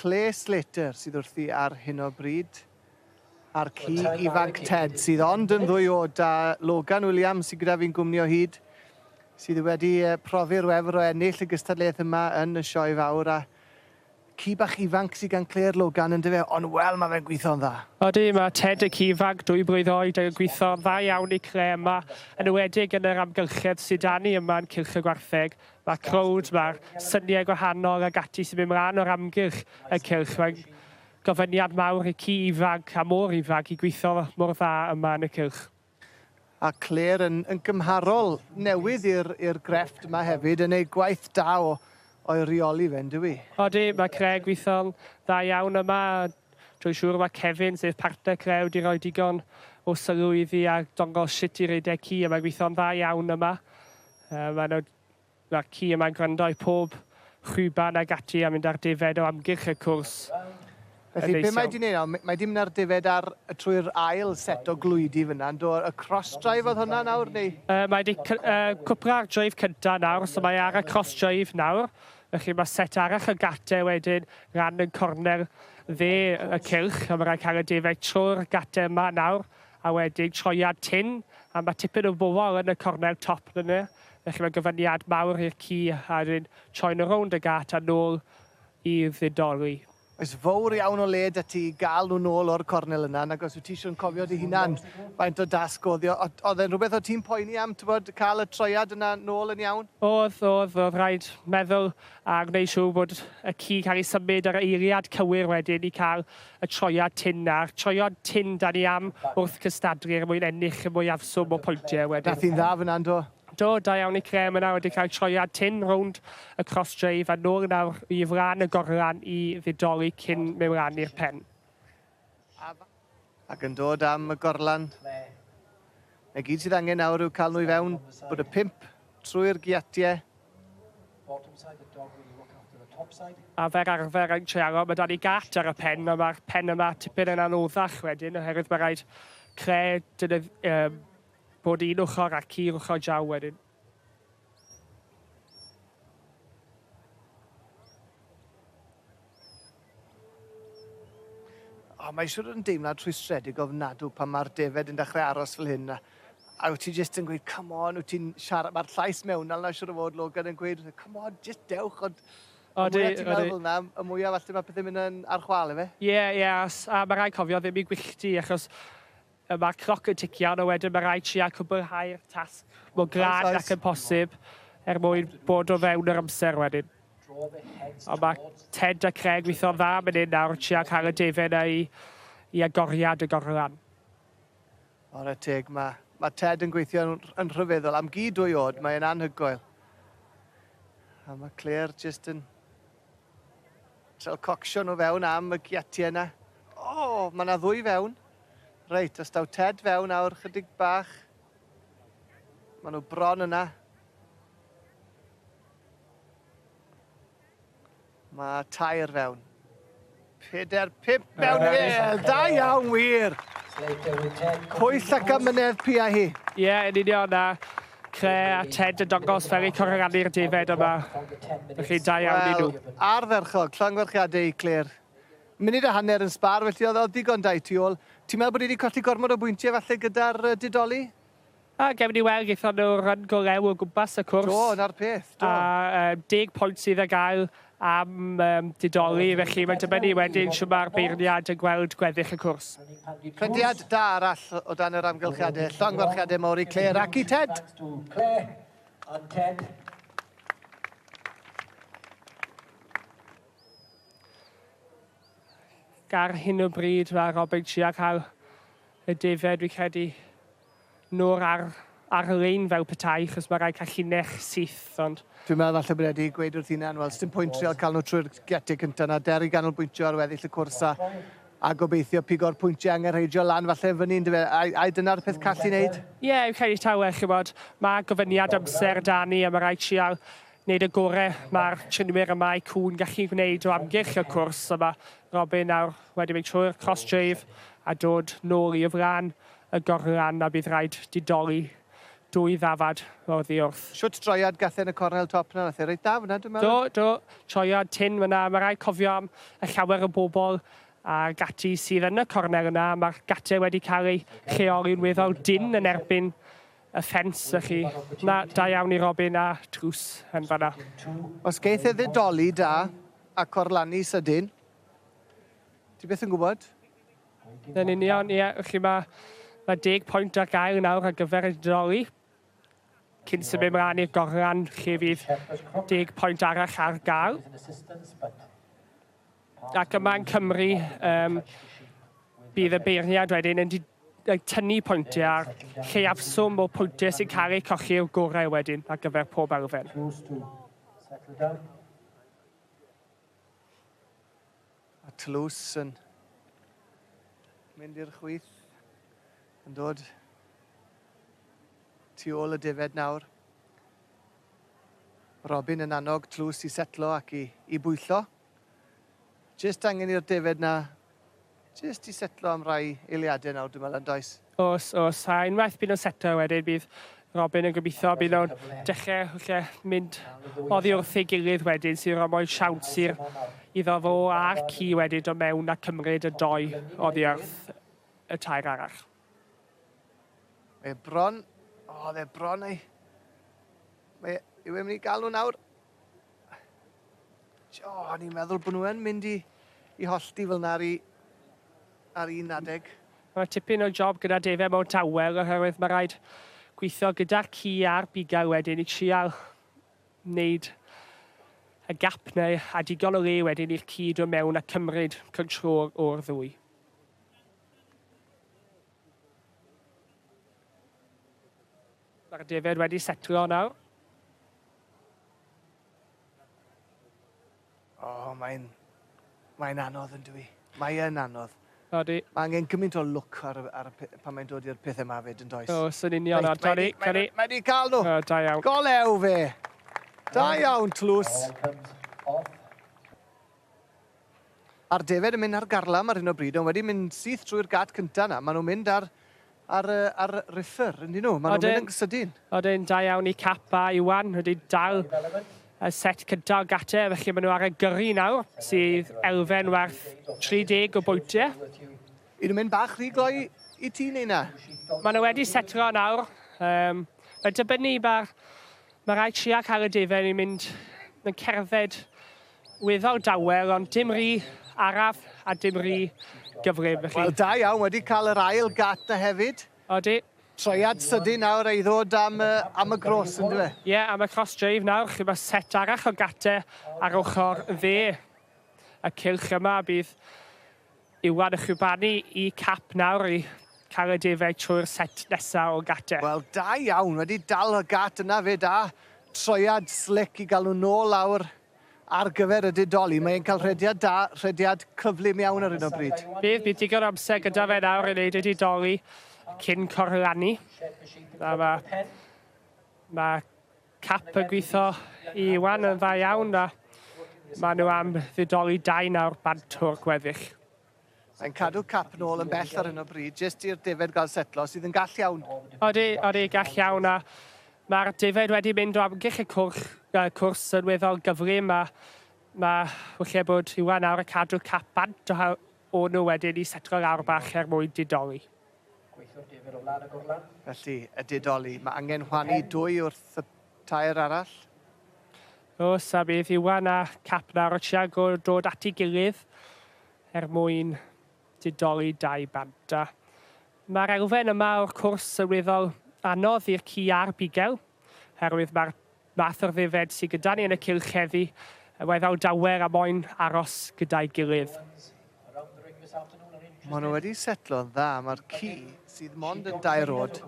Clare Slater sydd wrthi ar hyn o bryd, a'r ci ifanc Ted sydd ond yn ddwy o da Logan Williams sydd gyda fi'n gwmni o hyd, sydd wedi profi'r wefr o ennill y gystadleuaeth yma yn y sioe fawr a ci bach ifanc sydd gan Clare Logan yn dyfe, ond wel mae fe'n gweithio'n dda. Odi, mae Ted y ci ifanc dwy blwydd oed yn gweithio'n dda iawn i Clare yma, yn enwedig yn yr amgylchedd sydd 'da ni yma yn Cylch y Gwartheg, Mae'r crowd, mae'r syniau gwahanol ag ati sy'n mynd mlaen o'r amgylch y cylch, mae'n gofyniad mawr i ci ifanc a mor ifanc i gweithio mor dda yma yn y cylch. A Claire yn yn gymharol newydd i'r i'r grefft yma hefyd yn ei gwaith da o o'i reoli fe yndyw i? Odi, mae Claire gweithio'n dda iawn yma a dwi'n siŵr mae Kevin, sef partner Claire, wedi rhoi digon o sylw iddi a dongos sut i redeg ci a mae'n gweithio'n dda iawn yma. Yy ma' 'na ma' ci yma'n gwrando i pob chwiban ag ati a mynd ar defaid o amgylch y cwrs. Yn Felly neis be mae iawn. 'di neud nawr m- mae 'di myn' ar defaid ar yy trwy'r ail set o glwydi fyn 'na yndo? Y cross drive o'dd hwnna nawr neu? Yy mae 'di cy- yy cwpla ar drive cynta nawr so mae ar y cross drive nawr felly ma' set arall o gate wedyn ran yn cornel dde y cylch a ma' raid ca'l y defaid trw'r gate yma nawr A wedyn troiad tynn, a ma' tipyn o fwfol yn y cornel top fan 'na, felly mae'n gyfuniad mawr i'r ci, a wedyn troi'n nhw rownd y gât a nôl i ddidoli. Oes fowr iawn o le 'da ti i ga'l nhw nôl o'r cornel yna, nag os wyt ti isio'n cofio dy hunan faint o dasg o'dd o. O'dd o'dd e'n rhwbeth o' ti'n poeni am, t'bod, ca'l y troiad yna nôl yn iawn? O'dd, o'dd, o'dd rhaid meddwl a gwneud siŵr bod y ci'n cael ei symud ar y eiliad cywir wedyn i ca'l y troiad tin a'r troiad tin dan ni am wrth gystadlu er mwyn ennill y mwyafswm o pwyntiau wedyn. Daeth hi'n dda fyna, yn do? Do, da iawn i Crem yna wedi cael troiad tin rownd y cross dreif a nôl nawr i flan y gorlan i ddidoli cyn mewn i'r pen. Ac yn dod am y gorlan. Y gyd sydd angen nawr yw cael nhw i fewn, bod y pump trwy'r giatiau. A fer arfer yn Trealo mae 'da ni gât ar y pen a mae'r pen yma tipyn yn anoddach wedyn oherwydd mae rhaid creu deunydd, um, bod un ochr ac un ochr draw wedyn. O, mae siwr yn deimlad rhwystredig ofnadw pan mae'r defed yn dechrau aros fel hyn a, a wyt ti jyst yn gweud, come on, wyt ti'n siarad, mae'r llais mewnol na siwr o fod Logan yn gweud, come on, jyst dewch, ond o, y mwyaf ti'n meddwl fel yna, y mwyaf falle mae pethau'n mynd yn ar chwal efe. Ie, ie, a mae rhaid cofio ddim i gwyllti, achos Y mae'r cloc yn ticio arno wedyn mae rhaid trial cwbwlhau'r tasg mor glad ac yn posib er mwyn bod o fewn yr amser wedyn. Ond mae Ted a Craig weithio'n dda am yn un nawr yn trial cael y defen yna i i agoriad y gorlan. Ware teg mae mae Ted yn gweithio yn yn rhyfeddol am gi dwy oed mae e'n anhygoel. A mae Claire jyst yn Trial cocsio nhw fewn am y giatie yna. O! Mae yna ddwy fewn. Reit, os daw Ted fewn awr chydig bach. Mae nhw bron yna. Mae tair fewn. Pedair, pip mewn i fe. Da iawn, wir. Pwyll ac amynedd pi a hi. Ie, yeah, yn union na. Cre a Ted yn dongos fel eu corrani'r defaid yma. Felly, da iawn i nhw. Arferchog, llongwerchiadau i Claire. Munud a hanner yn sbar, felly oedd digon da i tu ôl. Ti'n meddwl bod ni wedi colli gormod o bwyntiau falle gyda'r didoli? A gewn ni weld, gaethon nhw run go lew o gwmpas y cwrs. Do, yna'r peth, do. A um, deg pwynt sydd ar gael am um, didoli, felly mae'n dibynnu wedyn siw mae'r beirniad yn gweld gweddill y cwrs. Prediad da arall o dan yr amgylchiadau. Llongyfarchiadau mawr i Claire ac i Ted. Ar hyn o bryd mae Robeg trio cael y defaid fi'n credu nôl ar ar lein fel petai achos mae rhai callinell syth ond... Dwi'n meddwl falle bod e wedi gweud wrth hunan wel sdim pwynt trio cael nhw trwy'r gate cynta na der i ganolbwyntio ar weddill y cwrs a a gobeithio pigo'r pwyntiau angenrheidiol lan falle yn fyny yndyfe a a dyna'r peth call i wneud? Ie fi'n credu taw e chibod mae gofyniad amser da ni a mae rhaid trial Nid y gorau mae'r triniwyr y mae cŵn gallu gwneud o amgylch y cwrs a mae Robin nawr wedi mynd trwy'r cross-dreif a dod nôl i flan y gornran a bydd rhaid didoli dwy ddafad oddi wrth. Shwt droiad gath e yn y cornel top 'na? Nath e reit dda fynna dwi'n meddwl. Do, do. Troiad tynn fynna. Mae rhaid cofio am y llawer o bobl ag ati sydd yn y cornel yna. Mae'r gate wedi cael ei lleoli'n weddol dynn yn erbyn Y ffens, y'ch chi. Na, da iawn i Robin a Drws yn fan'na. Os geith e ddidoli da a corlanu sydyn, ti byth yn gwybod. Yn union, ie, y'ch chi, mae ma deg pwynt ar gael nawr ar gyfer y didoli. Cyn symud mlaen i'r gorlan, lle fydd deg pwynt arall ar gael. Ac yma yn Cymru, um, bydd y beirniad wedyn yn tynnu pwyntiau ar lleiafswm o pwyntiau sy'n cael eu cochi i'r gorau wedyn ar gyfer pob elfen. A tlws yn mynd i'r chwith, yn dod tu ôl y defed nawr. Robin yn annog tlws i setlo ac i, i bwyllo. Jyst angen i'r defaid 'na jyst i setlo am rai eiliade nawr dwi'n meddwl, yn does? Oes, oes, a unwaith bydd nhw'n setlo wedyn bydd Robin yn gobeithio bydd nhw'n dechrau falle mynd oddi wrth ei gilydd wedyn sy'n rhoi mwy siawns i'r iddo fo a'r ci wedyn dod mewn a cymryd y dou oddi wrth y tair arall. Mae e bron, o, oedd e bron ei... Mae e, yw e'n mynd i gael nhw nawr? O, o'n i'n meddwl bod nhw yn mynd i, i hollti fel yna ar, i, ar un adeg. Mae tipyn o job gyda defaid mewn tawel oherwydd mae rhaid gweithio gyda'r ci a'r bugail wedyn i trial wneud y gap neu a digon o le wedyn i'r ci dod mewn a cymryd control o'r ddwy. Mae'r defaid wedi setlo nawr. O, mae'n... Mae'n anodd yn dwi. Mae yn anodd. Odi. Mae angen gymaint o look ar, ar, pan mae'n dod i'r pethau yma fyd yn does. O, sy'n union ar Johnny. Mae wedi cael nhw. O, da iawn. Golew fe. Da iawn, tlws. A'r defaid yn mynd ar garlam ar hyn o bryd ond wedi mynd syth trwy'r gât cynta 'na. Ma' nhw'n mynd ar ar yy ar riffer yndyn nhw? Ma' nhw'n mynd yn sydyn. Odyn, da iawn i Cap a Iwan wedi dal y set cynta o gate felly ma' nhw ar y gyrru nawr sydd elfen werth 30 o bwyntie. Y'n nhw'n mynd bach rhy gloi i ti neu na? Ma' nhw wedi setlo nawr. Yym mae'n dibynnu ma'r ma' raid tria cael y defaid i mynd yn cerdded Wyddoch dawel ond dim rhi araf a dim rhi gyflym felly. Wel da iawn, wedi cael yr ail gat da hefyd. Odi. Troiad sydyn nawr a'i ddod am y am y gros yndyw e? Ie am y cross drive nawr chi ma set arall o gate ar ochr dde y cylch yma bydd Iwan a Chubani i cap nawr i cael y defaid trwy'r set nesaf o gatau. Wel, da iawn, wedi dal y gat yna 'fyd a troiad slic i gael nhw nôl lawr ar gyfer y didoli. Mae e'n cael rhediad da, rhediad cyflym iawn ar hyn o bryd. Bydd, bydd digon o amser gyda fe nawr i wneud y didoli cyn corlannu. A mae, mae Cap yn gwitho i Iwan yn dda iawn a maen nhw am fudoli dau nawr bant o'r gweddill. Mae'n cadw cap nôl yn bell ar hyn o bryd, jyst i'r defaid gael setlo, sydd yn gall iawn. Odi, odi, gall iawn a mae'r defaid wedi mynd o amgylch y cwrch, uh, cwrs yn weddol gyflym a mae lle bod Iwan nawr yn cadw cap bant o O nhw wedyn i setlo'r aur bach er mwyn didoli. Gweithiwr difyr o flan y gorlan. Felly, y didoli. Mae angen chwanu dwy wrth y tair arall. Oes, a bydd Iwan a Cap nawr o Chiago dod at ei gilydd er mwyn didoli dau banta. Mae'r elfen yma o'r cwrs yn weddol anodd i'r ci a'r bugel, herwydd mae'r Math o'r ddefaid sy gyda ni yn y cylch heddi, y mae fel dawer am moyn aros gyda'i gilydd. Maen nhw wedi setlo'n dda, mae'r ci, sydd mond yn dair oed,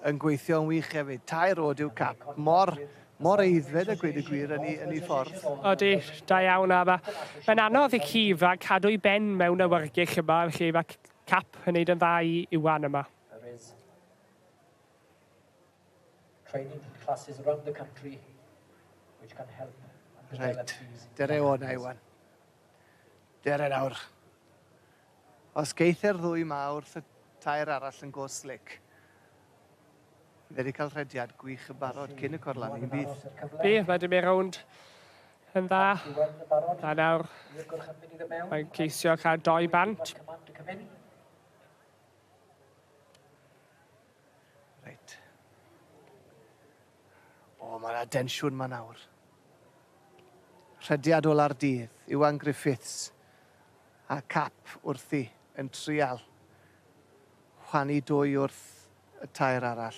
yn gweithio'n wych hefyd. Tair oed yw Cap, mor, mor aeddfed a gweud y gwir yn ei, yn ei ffordd. Odi, da iawn, a mae, mae'n anodd i ci ifanc cadw'i ben mewn awyrgych yma, felly mae Cap yn neud yn dda i Iwan yma. training classes around the country which can help and develop right. these... Dere o na, Iwan. Dere nawr. Os geithio'r ddwy ma wrth y tair arall yn go slic, fe wedi cael rhediad gwych yn barod cyn y corlan i'n bydd. Fi, mae dim i'r rownd yn dda. A nawr, mae'n ceisio cael doi bant. Reit. O, mae yna densiwn ma nawr. Rhediad ola'r dydd, Iwan Griffiths a cap wrthi yn trial chwanu dwy wrth y tair arall.